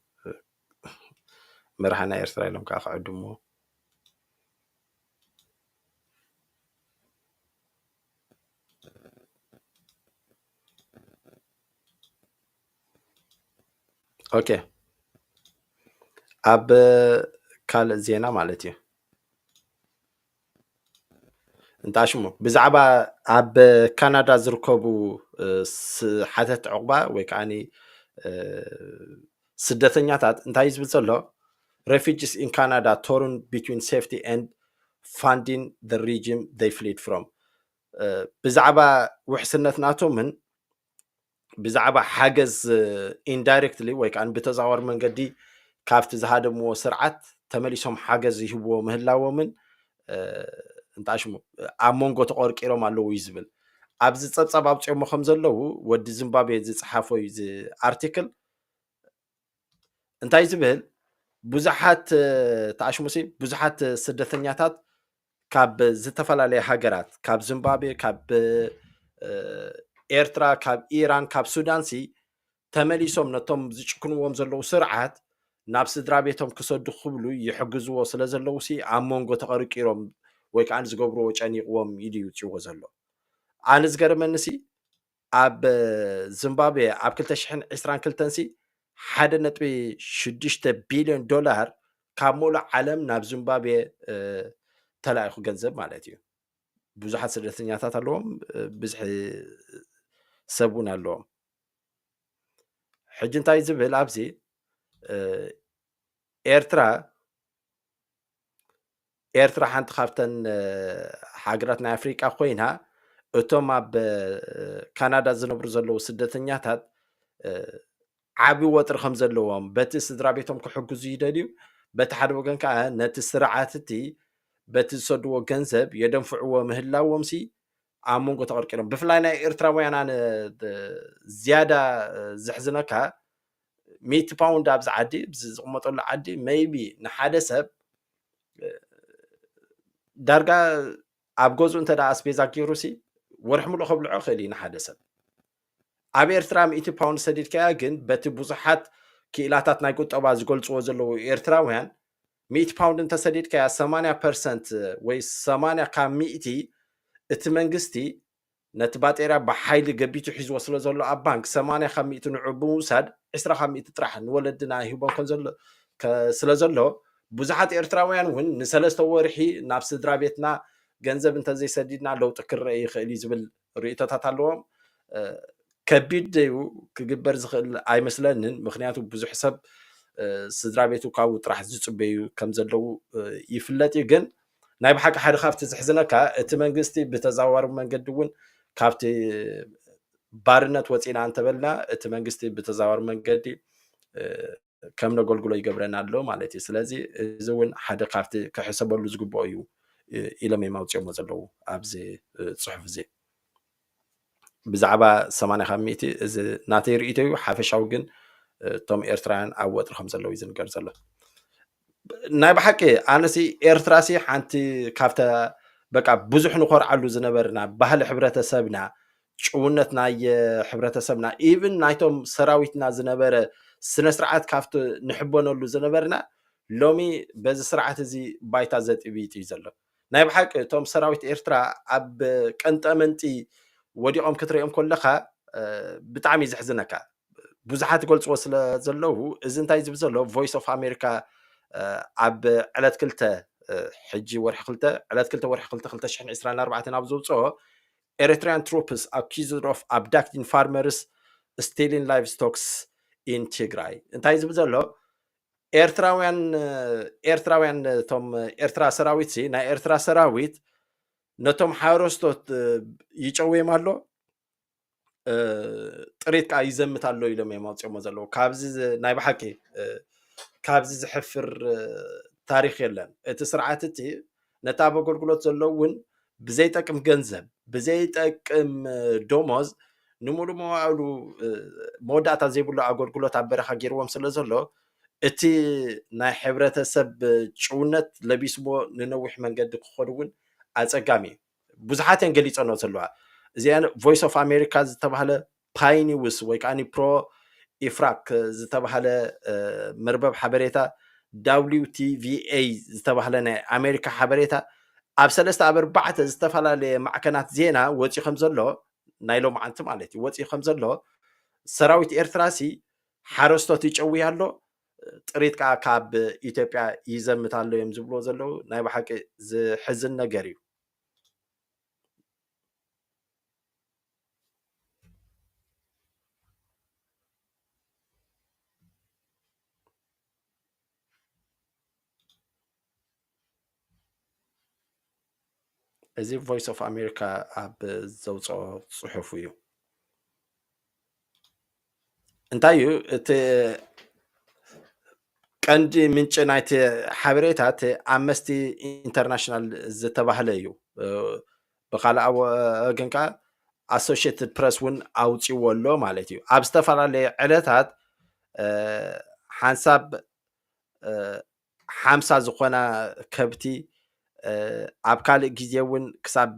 መራሕና ኤርትራ ኢሎም ከዓ ክዕድምዎ ኦኬ ኣብ ካልእ ዜና ማለት እዩ እንተኣሽ እሞ ብዛዕባ ኣብ ካናዳ ዝርከቡ ሓተት ዕቑባ ወይ ከዓ ስደተኛታት እንታይ ዝብል ዘሎ ሬፊጅስ ኢን ካናዳ ቶርን ቢትዊን ሴፍቲ ኤንድ ፋንዲን ደ ሪጅም ደይ ፍሊድ ፍሮም ብዛዕባ ውሕስነት ናቶምን ብዛዕባ ሓገዝ ኢንዳይሬክትሊ ወይ ከዓ ብተዛዋሪ መንገዲ ካብቲ ዝሃደምዎ ስርዓት ተመሊሶም ሓገዝ ይህብዎ ምህላዎምን እንታይ ሽሙ ኣብ መንጎ ተቆርቂሮም ኣለዉ እዩ ዝብል ኣብዚ ፀብፃብ ኣውፅኦሞ ከም ዘለዉ ወዲ ዝምባብዌ ዝፀሓፎ እዩ እዚ ኣርቲክል እንታይ ዝብል ብዙሓት ተኣሽሙሲ ብዙሓት ስደተኛታት ካብ ዝተፈላለየ ሃገራት ካብ ዝምባብዌ ካብ ኤርትራ ካብ ኢራን ካብ ሱዳን ሲ ተመሊሶም ነቶም ዝጭክንዎም ዘለዉ ስርዓት ናብ ስድራ ቤቶም ክሰዱ ክብሉ ይሕግዝዎ ስለ ዘለዉ ሲ ኣብ መንጎ ተቐርቂሮም ወይ ከዓ ዝገብርዎ ጨኒቕዎም ኢሉ ይውፅዎ ዘሎ ኣነ ዝገርመኒ ሲ ኣብ ዚምባብዌ ኣብ ክልተ ሽሕን ዕስራን ክልተን ሲ ሓደ ነጥቢ ሽዱሽተ ቢልዮን ዶላር ካብ ሙሉእ ዓለም ናብ ዚምባብዌ ተላኢኹ ገንዘብ ማለት እዩ። ብዙሓት ስደተኛታት ኣለዎም፣ ብዝሒ ሰብ እውን ኣለዎም። ሕጂ እንታይ ዝብል ኣብዚ ኤርትራ ኤርትራ ሓንቲ ካብተን ሃገራት ናይ ኣፍሪቃ ኮይና እቶም ኣብ ካናዳ ዝነብሩ ዘለዉ ስደተኛታት ዓቢ ወጥሪ ከም ዘለዎም በቲ ስድራ ቤቶም ክሕግዙ ይደልዩ በቲ ሓደ ወገን ከዓ ነቲ ስርዓት እቲ በቲ ዝሰድዎ ገንዘብ የደንፍዕዎ ምህላዎም ሲ ኣብ መንጎ ተቐርቂሮም ብፍላይ ናይ ኤርትራውያን ኣነ ዝያዳ ዘሕዝነካ ሚእቲ ፓውንድ ኣብዚ ዓዲ እዚ ዝቕመጠሉ ዓዲ መይቢ ንሓደ ሰብ ዳርጋ ኣብ ገዝኡ እንተ ኣስቤዛ ገይሩ ሲ ወርሒ ሙሉእ ከብልዖ ይኽእል እዩ ንሓደ ሰብ ኣብ ኤርትራ ሚእቲ ፓውንድ ሰዲድካያ ግን በቲ ብዙሓት ክኢላታት ናይ ቁጠባ ዝገልፅዎ ዘለዉ ኤርትራውያን ሚእቲ ፓውንድ እንተሰዲድካያ ሰማንያ ፐርሰንት ወይ ሰማንያ ካብ ሚእቲ እቲ መንግስቲ ነቲ ባጤርያ ብሓይሊ ገቢቱ ሒዝዎ ስለ ዘሎ ኣብ ባንክ ሰማንያ ካብ ሚእቲ ንዑ ብምውሳድ ዕስራ ካብ ሚእቲ ጥራሕ ንወለድና ይህቦም ስለ ዘሎ ብዙሓት ኤርትራውያን እውን ንሰለስተ ወርሒ ናብ ስድራ ቤትና ገንዘብ እንተዘይሰዲድና ለውጢ ክረአ ይኽእል እዩ ዝብል ርእይቶታት ኣለዎም። ከቢድ ደዩ ክግበር ዝኽእል ኣይመስለንን ምክንያቱ ብዙሕ ሰብ ስድራ ቤቱ ካብኡ ጥራሕ ዝፅበዩ ከም ዘለዉ ይፍለጥ እዩ ግን ናይ ብሓቂ ሓደ ካብቲ ዝሕዝነካ እቲ መንግስቲ ብተዘዋዋሪ መንገዲ እውን ካብቲ ባርነት ወፂና እንተበልና እቲ መንግስቲ ብተዘዋዋሪ መንገዲ ከም ነገልግሎ ይገብረና ኣሎ ማለት እዩ ስለዚ እዚ እውን ሓደ ካብቲ ክሕሰበሉ ዝግብኦ እዩ ኢሎም እዮም ኣውፅኦሞ ዘለዉ ኣብዚ ፅሑፍ እዚ ብዛዕባ ሰማንያ ካብ ሚእቲ እዚ ናተይ ርእይቶ እዩ ሓፈሻዊ ግን እቶም ኤርትራውያን ኣብ ወጥሪ ከም ዘለዉ እዩ ዝንገር ዘሎ ናይ ብሓቂ ኣነሲ ኤርትራሲ ሓንቲ ካብተ በቃ ብዙሕ ንኮርዓሉ ዝነበርና ባህሊ ሕብረተሰብና ጭውነት ናይ ሕብረተሰብና ኢቭን ናይቶም ሰራዊትና ዝነበረ ስነ ስርዓት ካብቲ ንሕበነሉ ዝነበርና ሎሚ በዚ ስርዓት እዚ ባይታ ዘጥቢጥ እዩ ዘሎ ናይ ብሓቂ እቶም ሰራዊት ኤርትራ ኣብ ቀንጠመንጢ ወዲቖም ክትሪኦም ኮለኻ ብጣዕሚ እዩ ዘሕዝነካ። ብዙሓት ይገልጽዎ ስለ ዘለዉ እዚ እንታይ ዝብል ዘሎ ቮይስ ኦፍ ኣሜሪካ ኣብ ዕለት ክልተ ሕጂ ወርሒ ክልተ ዕለት ክልተ ወርሒ ክልተ ክልተ ሽሕን ዕስራን ኣርባዕተን ኣብ ዘውፅኦ ኤሪትሪያን ትሮፕስ ኣኪዝድ ኦፍ ኣብዳክቲን ፋርመርስ ስቴሊን ላይቭ ስቶክስ ኢን ትግራይ እንታይ ዝብል ዘሎ ኤርትራውያን ኤርትራውያን እቶም ኤርትራ ሰራዊት ሲ ናይ ኤርትራ ሰራዊት ነቶም ሓረስቶት ይጨውዮም ኣሎ ጥሪት ከዓ ይዘምት ኣሎ ኢሎም እዮም ኣውፅኦሞ ዘለዉ ካብዚ ናይ ብሓቂ ካብዚ ዝሕፍር ታሪክ የለን እቲ ስርዓት እቲ ነቲ ኣብ ኣገልግሎት ዘሎ እውን ብዘይጠቅም ገንዘብ ብዘይጠቅም ደሞዝ ንሙሉእ መዋእሉ መወዳእታ ዘይብሉ ኣገልግሎት ኣብ በረኻ ገይርዎም ስለ ዘሎ እቲ ናይ ሕብረተሰብ ጭውነት ለቢስዎ ንነዊሕ መንገዲ ክኾኑ እውን ኣፀጋሚ እዩ። ብዙሓት እየን ገሊፀኖ ዘለዋ እዚኣ ቮይስ ኦፍ ኣሜሪካ ዝተባህለ ፓይኒውስ ወይ ከዓኒ ፕሮ ኢፍራክ ዝተባህለ መርበብ ሓበሬታ WTVA ዝተባህለ ናይ ኣሜሪካ ሓበሬታ ኣብ ሰለስተ ኣብ ኣርባዕተ ዝተፈላለየ ማዕከናት ዜና ወፂኡ ከም ዘሎ ናይ ሎምዓንቲ ማለት እዩ ወፂኡ ከም ዘሎ ሰራዊት ኤርትራሲ ሓረስቶት ይጨውይ ኣሎ ጥሪት ከዓ ካብ ኢትዮጵያ ይዘምት ኣሎ እዮም ዝብልዎ ዘለዉ ናይ ብሓቂ ዝሕዝን ነገር እዩ እዚ ቮይስ ኦፍ ኣሜሪካ ኣብ ዘውፀኦ ፅሑፍ እዩ። እንታይ እዩ እቲ ቀንዲ ምንጪ ናይቲ ሓበሬታ እቲ ኣመስቲ ኢንተርናሽናል ዝተባህለ እዩ ብካልኣ ወገን ከዓ ኣሶሽትድ ፕረስ እውን ኣውፅዎ ኣሎ ማለት እዩ ኣብ ዝተፈላለየ ዕለታት ሓንሳብ ሓምሳ ዝኾና ከብቲ ኣብ ካልእ ግዜ እውን ክሳብ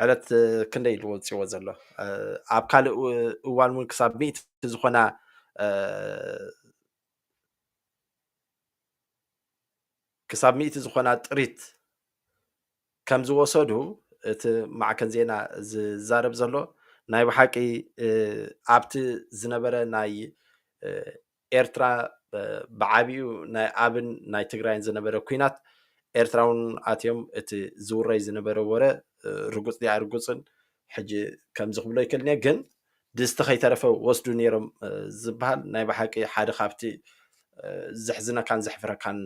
ዕለት ክንደይ ኢሉ ወፂዎ ዘሎ ኣብ ካልእ እዋን እውን ክሳብ ሚእቲ ዝኾና ክሳብ ሚእቲ ዝኾና ጥሪት ከም ዝወሰዱ እቲ ማዕከን ዜና ዝዛረብ ዘሎ ናይ ብሓቂ ኣብቲ ዝነበረ ናይ ኤርትራ ብዓቢኡ ናይ ኣብን ናይ ትግራይን ዝነበረ ኩናት ኤርትራውን ኣትዮም እቲ ዝውረይ ዝነበረ ወረ ርጉጽ ዲኣ ርጉጽን ሕጂ ከምዚ ክብሎ ይክእልኒ ግን ድስቲ ከይተረፈ ወስዱ ነይሮም ዝበሃል ናይ ብሓቂ ሓደ ካብቲ ዘሕዝነካን ዘሕፍረካን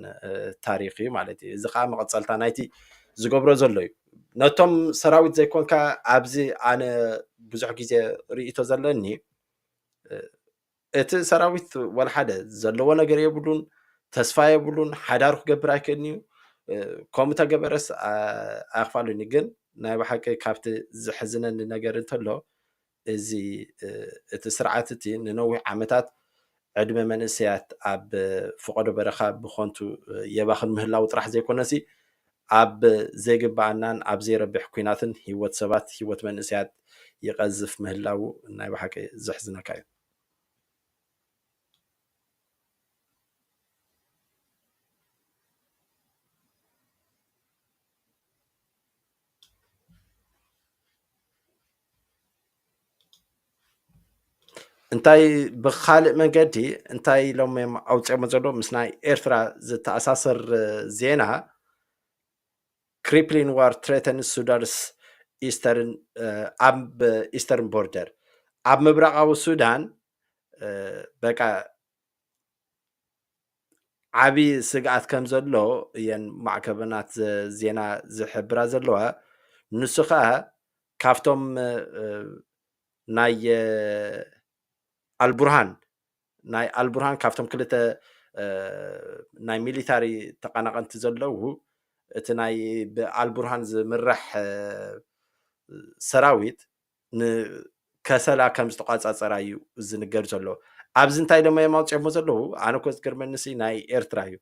ታሪክ እዩ ማለት እዩ እዚ ከዓ መቐፀልታ ናይቲ ዝገብሮ ዘሎ እዩ ነቶም ሰራዊት ዘይኮንካ ኣብዚ ኣነ ብዙሕ ግዜ ርእቶ ዘለኒ እቲ ሰራዊት ወልሓደ ዘለዎ ነገር የብሉን፣ ተስፋ የብሉን፣ ሓዳሩ ክገብር ኣይክእልን እዩ። ከምኡ ተገበረስ ኣኽፋሉኒ ግን ናይ ብሓቂ ካብቲ ዝሕዝነኒ ነገር እንተሎ እዚ እቲ ስርዓት እቲ ንነዊሕ ዓመታት ዕድመ መንእሰያት ኣብ ፍቐዶ በረኻ ብኾንቱ የባኽን ምህላው ጥራሕ ዘይኮነሲ ኣብ ዘይግበኣናን ኣብ ዘይረብሕ ኩናትን ሂወት ሰባት ሂወት መንእሰያት ይቀዝፍ ምህላዉ ናይ በሓቂ ዘሕዝነካ እዩ። እንታይ ብካልእ መንገዲ እንታይ ኢሎም እዮም ኣውፅኦሞ ዘሎ ምስ ናይ ኤርትራ ዝተኣሳሰር ዜና ክሪፕሊን ዋር ትሬተንስ ሱዳንስ ኢስተርን ኣብ ኢስተርን ቦርደር ኣብ ምብራቃዊ ሱዳን በቃ ዓብዪ ስግኣት ከም ዘሎ እየን ማዕከበናት ዜና ዝሕብራ ዘለዋ ንሱ ከዓ ካብቶም ናይ ኣልቡርሃን ናይ ኣልቡርሃን ካብቶም ክልተ ናይ ሚሊታሪ ተቐናቐንቲ ዘለዉ እቲ ናይ ብኣልቡርሃን ዝምራሕ ሰራዊት ንከሰላ ከም ዝተቋፃፀራ እዩ ዝንገር ዘሎ ኣብዚ እንታይ ደሞ እዮም ኣውፅኦሞ ዘለዉ ኣነ ኮ ዝገርመኒ ሲ ናይ ኤርትራ እዩ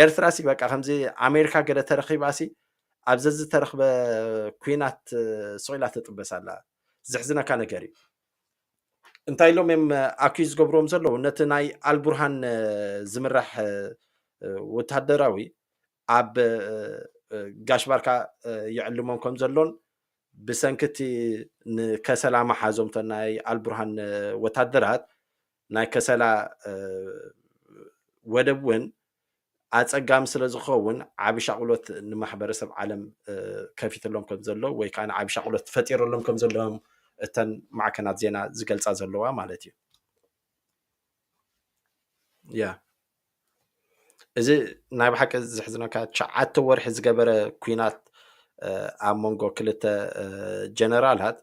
ኤርትራ ሲ በቃ ከምዚ ኣሜሪካ ገለ ተረኺባ ሲ ኣብ ዘዝተረኽበ ኩናት ስቂላ ትጥበስ ኣላ ዘሕዝነካ ነገር እዩ እንታይ ኢሎም እዮም ኣኩዩ ዝገብርዎም ዘለዉ ነቲ ናይ ኣልቡርሃን ዝምራሕ ወታደራዊ ኣብ ጋሽ ባርካ ይዕልሞም ከም ዘሎን ብሰንኪ እቲ ንከሰላ መሓዞም ናይ ኣልቡርሃን ወታደራት ናይ ከሰላ ወደብ እውን ኣፀጋሚ ስለ ዝኸውን ዓብ ሻቕሎት ንማሕበረሰብ ዓለም ከፊትሎም ከም ዘሎ ወይ ከዓ ዓብ ሻቕሎት ፈጢረሎም ከም ዘለዎም እተን ማዕከናት ዜና ዝገልፃ ዘለዋ ማለት እዩ ያ እዚ ናይ ብሓቂ ዘሕዝነካ ትሽዓተ ወርሒ ዝገበረ ኩናት ኣብ መንጎ ክልተ ጀነራላት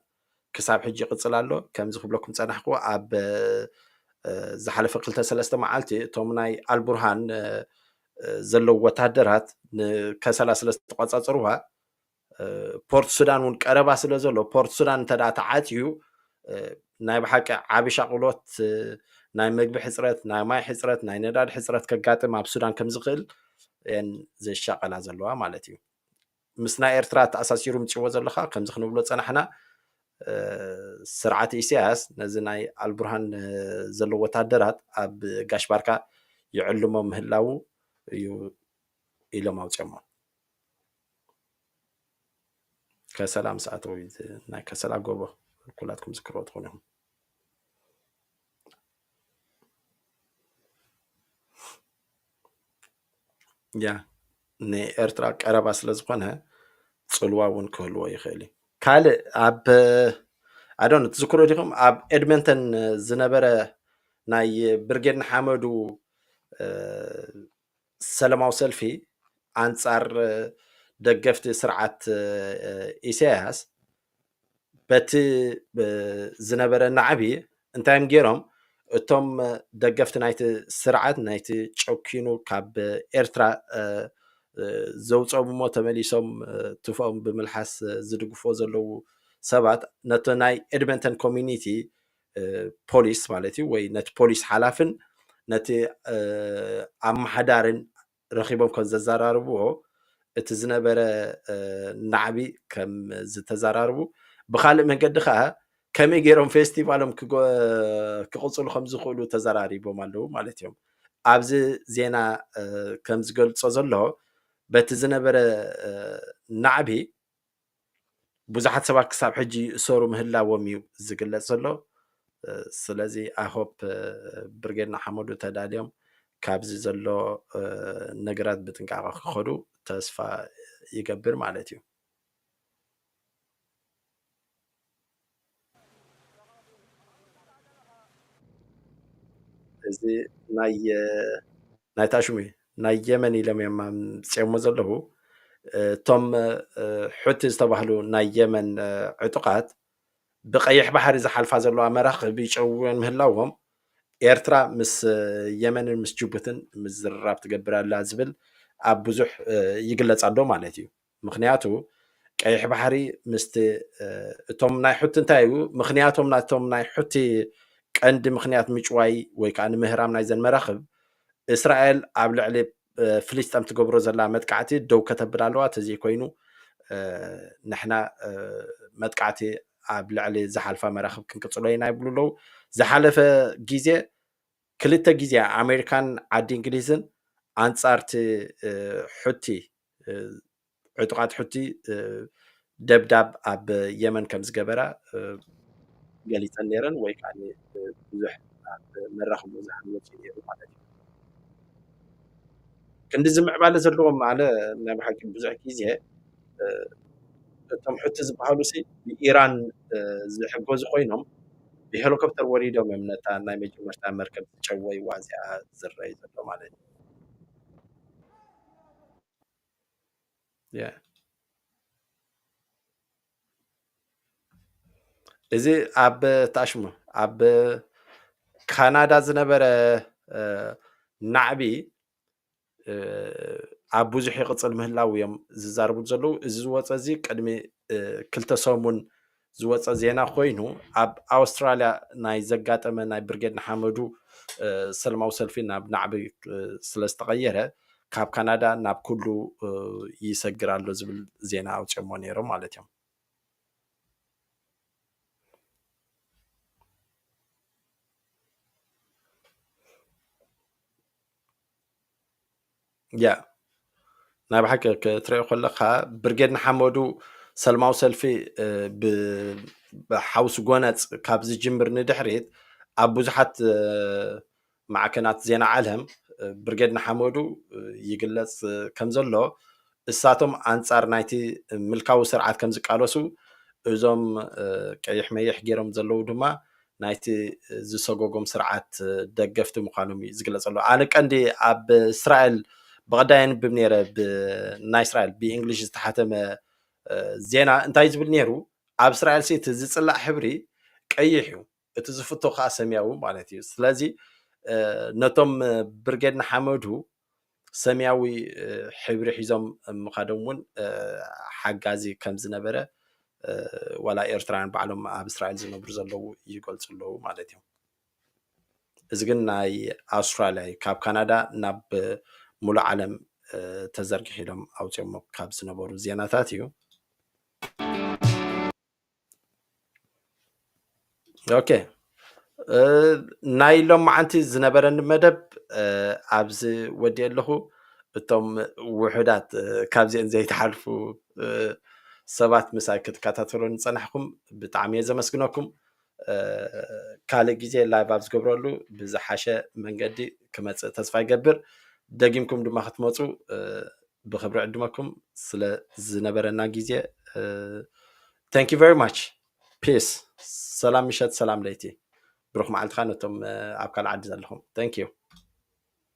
ክሳብ ሕጂ ይቕፅል ኣሎ ከምዚ ክብለኩም ፀናሕኩ ኣብ ዝሓለፈ ክልተ ሰለስተ መዓልቲ እቶም ናይ ኣልቡርሃን ዘለዉ ወታደራት ንከሰላ ስለ ዝተቆፃፀርዋ ፖርት ሱዳን እውን ቀረባ ስለ ዘሎ ፖርት ሱዳን እንተ ተዓፅዩ ናይ ብሓቂ ዓብ ሻቕሎት ናይ መግቢ ሕፅረት ናይ ማይ ሕፅረት ናይ ነዳድ ሕፅረት ከጋጥም ኣብ ሱዳን ከም ዝኽእል እየን ዘሻቐላ ዘለዋ ማለት እዩ ምስ ናይ ኤርትራ ተኣሳሲሩ ምፅዎ ዘለካ ከምዚ ክንብሎ ፀናሕና ስርዓት ኢሳያስ ነዚ ናይ ኣልቡርሃን ዘለዎ ወታደራት ኣብ ጋሽ ባርካ ይዕልሞ ምህላው እዩ ኢሎም ኣውፅኦሞ ከሰላ ምስ ኣተዉ እዩ ናይ ከሰላ ጎቦ ኩላትኩም ዝክርዎ ትኾኑ ኢኹም ያ ንኤርትራ ቀረባ ስለ ዝኾነ ፅልዋ እውን ክህልዎ ይኽእል እዩ ካልእ ኣብ ኣዶን ትዝክሮ ዲኹም ኣብ ኤድመንተን ዝነበረ ናይ ብርጌድ ንሓመዱ ሰለማዊ ሰልፊ ኣንጻር ደገፍቲ ስርዓት ኢሳያስ በቲ ዝነበረ ናዕቢ እንታይ እዮም ገይሮም እቶም ደገፍቲ ናይቲ ስርዓት ናይቲ ጨኪኑ ካብ ኤርትራ ዘውፀሙ እሞ ተመሊሶም ትፎኦም ብምልሓስ ዝድግፎ ዘለዉ ሰባት ነቲ ናይ ኤድመንተን ኮሚኒቲ ፖሊስ ማለት እዩ ወይ ነቲ ፖሊስ ሓላፍን ነቲ ኣመሓዳርን ረኺቦም ከም ዘዘራርብዎ እቲ ዝነበረ ናዕቢ ከም ዝተዘራርቡ ብካልእ መንገዲ ከዓ ከመይ ገይሮም ፌስቲቫሎም ክቕፅሉ ከም ዝኽእሉ ተዘራሪቦም ኣለዉ ማለት እዮም ኣብዚ ዜና ከም ዝገልፆ ዘሎ በቲ ዝነበረ ናዕቢ ብዙሓት ሰባት ክሳብ ሕጂ ይእሰሩ ምህላዎም እዩ ዝግለጽ ዘሎ ስለዚ ኣይሆፕ ብርጌድ ንሓመዱ ተዳልዮም ካብዚ ዘሎ ነገራት ብጥንቃቐ ክኸዱ ተስፋ ይገብር ማለት እዩ እዚ ናይ ናይታ ሽሙ ናይ የመን ኢሎም እዮም ኣምፅኦሞ ዘለዉ እቶም ሑቲ ዝተባህሉ ናይ የመን ዕጡቃት ብቀይሕ ባሕሪ ዝሓልፋ ዘለዋ መራኽብ ይጨውዮን ምህላዎም ኤርትራ ምስ የመንን ምስ ጅቡትን ምዝርራብ ትገብር ኣላ ዝብል ኣብ ብዙሕ ይግለጽ ኣሎ ማለት እዩ። ምኽንያቱ ቀይሕ ባሕሪ ምስቲ እቶም ናይ ሑቲ እንታይ እዩ ምኽንያቶም ናቶም ናይ ሑቲ ቀንዲ ምኽንያት ምጭዋይ ወይ ከዓ ንምህራም ናይዘን መራኽብ እስራኤል ኣብ ልዕሊ ፍልስጠም ትገብሮ ዘላ መጥቃዕቲ ደው ከተብል ኣለዋ ተዘይኮይኑ ንሕና መጥቃዕቲ ኣብ ልዕሊ ዝሓልፋ መራኽብ ክንቅፅሎ ኢና ይብሉ ኣለዉ ዝሓለፈ ግዜ ክልተ ግዜ ኣሜሪካን ዓዲ እንግሊዝን ኣንጻርቲ ሑቲ ዕጡቓት ሑቲ ደብዳብ ኣብ የመን ከም ዝገበራ ገሊፀን ነይረን ወይ ከዓ ብዙሕ ኣብ መራኽብ ብዙሓን ወፂኡ ነይሩ ማለት እዩ ክንዲ ዝምዕባለ ዘለዎም ማለ ናይ ብሓቂ ብዙሕ ግዜ እቶም ሕቲ ዝበሃሉ ሲ ብኢራን ዝሕገዙ ኮይኖም ብሄሊኮፕተር ወሪዶም እዮም ነታ ናይ መጀመርታ መርከብ ዝጨወይዋ እዚኣ ዝረኣዩ ዘሎ ማለት እዩ Yeah. እዚ ኣብ ታሽሙ ኣብ ካናዳ ዝነበረ ናዕቢ ኣብ ብዙሕ ይቕፅል ምህላው እዮም ዝዛረቡ ዘለዉ እዚ ዝወፀ እዚ ቅድሚ ክልተ ሰሙን ዝወጸ ዜና ኮይኑ ኣብ ኣውስትራልያ ናይ ዘጋጠመ ናይ ብርጌድ ንሓመዱ ሰለማዊ ሰልፊ ናብ ናዕቢ ስለ ዝተቐየረ ካብ ካናዳ ናብ ኩሉ ይሰግር ኣሎ ዝብል ዜና ኣውፅኦሞ ነይሮም ማለት እዮም። ያ ናይ ብሓቂ ክትሪኦ ከለካ ብርጌድ ንሓመዱ ሰልማዊ ሰልፊ ብሓውሲ ጎነፅ ካብ ዝጅምር ንድሕሪት ኣብ ብዙሓት ማዕከናት ዜና ዓለም ብርጌድ ንሓመዱ ይግለፅ ከም ዘሎ እሳቶም ኣንጻር ናይቲ ምልካዊ ስርዓት ከም ዝቃለሱ፣ እዞም ቀይሕ መይሕ ገይሮም ዘለዉ ድማ ናይቲ ዝሰጎጎም ስርዓት ደገፍቲ ምዃኖም እዩ ዝግለጸሉ። ኣነ ቀንዲ ኣብ እስራኤል ብቐዳይ ኣንብብ ነይረ ብናይ እስራኤል ብእንግሊሽ ዝተሓተመ ዜና እንታይ ዝብል ነይሩ ኣብ እስራኤል እቲ ዝጽላእ ሕብሪ ቀይሕ እዩ እቲ ዝፍቶ ከዓ ሰሚያዊ ማለት እዩ ስለዚ ነቶም ብርጌድ ንሓመዱ ሰሚያዊ ሕብሪ ሒዞም ምኻዶም እውን ሓጋዚ ከም ዝነበረ ዋላ ኤርትራውያን ባዕሎም ኣብ እስራኤል ዝነብሩ ዘለዉ ይገልፁ ኣለዉ ማለት እዮም እዚ ግን ናይ ኣውስትራልያ እዩ ካብ ካናዳ ናብ ሙሉእ ዓለም ተዘርጊሑ ኢሎም ኣውፅኦሞ ካብ ዝነበሩ ዜናታት እዩ ኦኬ ናይ ሎማዓንቲ ዝነበረኒ መደብ ኣብዚ ወዲኤ ኣለኹ እቶም ውሑዳት ካብዚአን ዘይተሓልፉ ሰባት ምሳይ ክትከታተሉ ንፀናሕኩም ብጣዕሚ እየ ዘመስግነኩም ካልእ ግዜ ላይቭ ኣብ ዝገብረሉ ብዝሓሸ መንገዲ ክመፅእ ተስፋ ይገብር ደጊምኩም ድማ ክትመፁ ብክብሪ ዕድመኩም ስለ ዝነበረና ግዜ ታንክ ዩ ቨሪ ማች ፒስ ሰላም ምሸት ሰላም ለይቲ ብሩክ መዓልቲ ከዓ ነቶም ኣብ ካልእ ዓዲ ዘለኹም ታንክ ዩ